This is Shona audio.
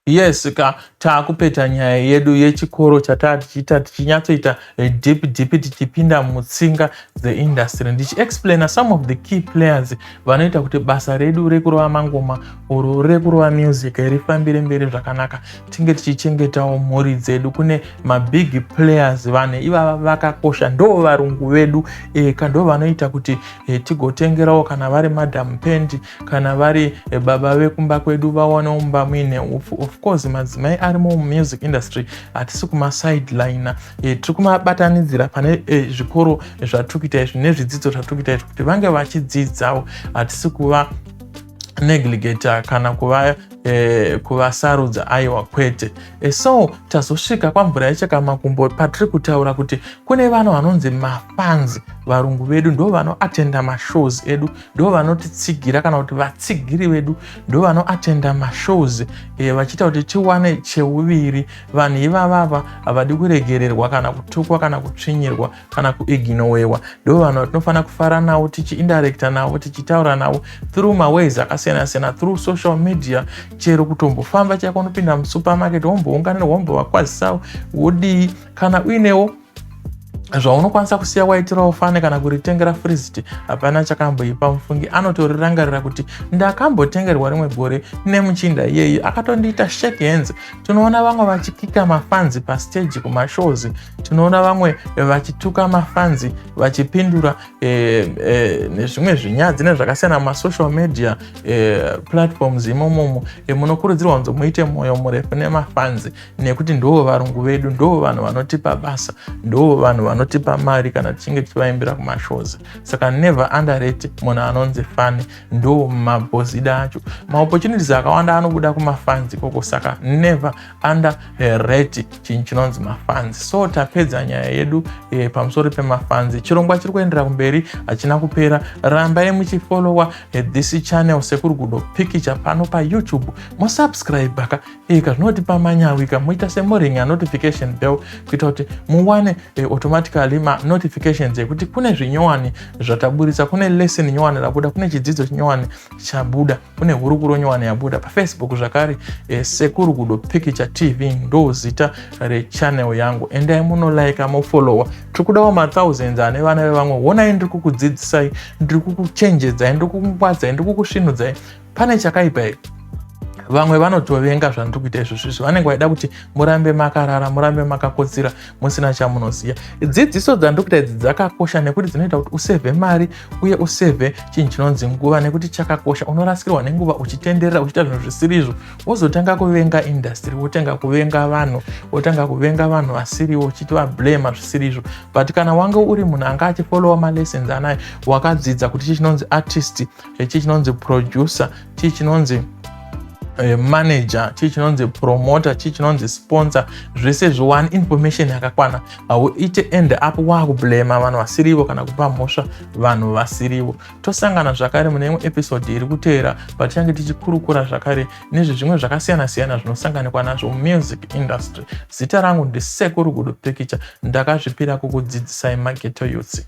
yes ka taakupeta nyaya yedu yechikoro chataa tichiita tichinyatsoita eh, deep deep tichipinda mutsinga dzeindustry ndichiexplaina some of the key players vanoita kuti basa redu rekurova mangoma or rekurova music rifambire mberi zvakanaka tinge tichichengetawo mhuri dzedu kune mabig players vane ivava vakakosha ndoo varungu vedu e, ka ndoo vanoita kuti e, tigotengerawo kana vari madam pendi kana vari e, baba vekumba kwedu vawanewo mumba muine upfu of course madzimai arimo mumusic industry hatisi kumasideline e, tiri kumabatanidzira pane e, zvikoro zvatiri kuita izvi nezvidzidzo zvatiri kuita izvi kuti vange vachidzidzawo hatisi kuva negligeta kana kuva eh, kuvasarudza aiwa kwete eh, so tazosvika kwamvura yechakamakumbo patiri kutaura kuti kune vanhu vanonzi mafanzi varungu vedu ndo vanoatenda mashows edu ndo vanotitsigira kana kuti vatsigiri vedu ndo vanoatenda mashows eh, vachiita kuti tiwane cheuviri vanhu ivavava havadi kuregererwa kana kutukwa kana kutsvinyirwa kana kuignowewa ndo vanhu vatinofanira kufara navo tichiindirecta navo tichitaura navo through maways akasiyana siyana through social media chero kutombofamba chako unopinda musupermarket wombounganira wombovakwazisavo wodii kana uinewo zvaunokwanisa kusiya waitirawo fane kana kuritengera friziti hapana chakamboipa mufungi anotorirangarira kuti ndakambotengerwa rimwe gore nemuchinda iyeyi akatondiita shake hands tinoona vamwe vachikika mafanzi pasteji kumashows tinoona vamwe vachituka mafanzi vachipindura eh, eh, nezvimwe zvinyadzi nezvakasiyana mumasocial media eh, platforms imomomo eh, munokurudzirwa kunzi muite mwoyo murefu nemafanzi nekuti ndoo varungu vedu ndoo vanhu vanotipa basa ndoo vanhu vanotipa mari kana tichinge tichivaimbira kumashows saka never underrate munhu anonzi fani ndoo mabhozida acho maopportunities akawanda anobuda kumafanzi ikoko saka never under rate chinhu chinonzi mafanzi so tapedza nyaya yedu e, pamusoro pemafanzi chirongwa chiri kuendera kumberi hachina kupera rambai muchifolowa e, eh, this channel sekuri gudo pikicha pano payoutube mosubscribe ka e, eh, kazvinoti pamanyawika moita semoring anotification bell kuita kuti muwane e, automatically manotifications ekuti kune zvinyowani zvataburitsa kune lesson nyowani rabuda kune chidzidzo chinyowani chabuda kune hurukuro nyowani yabuda pafacebook zvakare e, sekuru kudo pikicha tv ndo zita rechanel yangu endai munolaika mofolowa tiri kudawo mathousands ane vana vevamwe honai ndiri kukudzidzisai ndiri kukuchenjedzai ndiri kukungwadzai ndiri kukusvinudzai pane chakaipa here vamwe vanotovenga zvandiri kuita izvo zvizvo vanenge vaida kuti murambe makarara murambe makakotsira musina chamunoziva dzidziso dzandiri kuita idzi dzakakosha nekuti dzinoita kuti usevhe mari uye useve chinhu chinonzi nguva nekuti chakakosha unorasikirwa nenguva uchitenderera uchiita zvinhu zvisiri izvo wozotanga kuvenga indastiri wotanga kuvenga vanhu wotanga kuvenga vanhu vasiriwo uchiti vablema zvisiri izvo but kana wange uri munhu anga achifolowa malessons anayo wakadzidza kuti chii chinonzi artist chechii chinonzi producer chii chinonzi Eh, manager chii chinonzi promoter chii chinonzi sponsor zvese zviwani information yakakwana hauite end up waakublema vanhu vasirivo kana kupa mhosva vanhu vasirivo tosangana zvakare mune imwe episode iri kuteera patichange tichikurukura zvakare nezve zvimwe zvakasiyana siyana zvinosanganikwa nazvo mumusic industry zita rangu ndisekuru gudo pikicha ndakazvipira kukudzidzisai mageto yutsi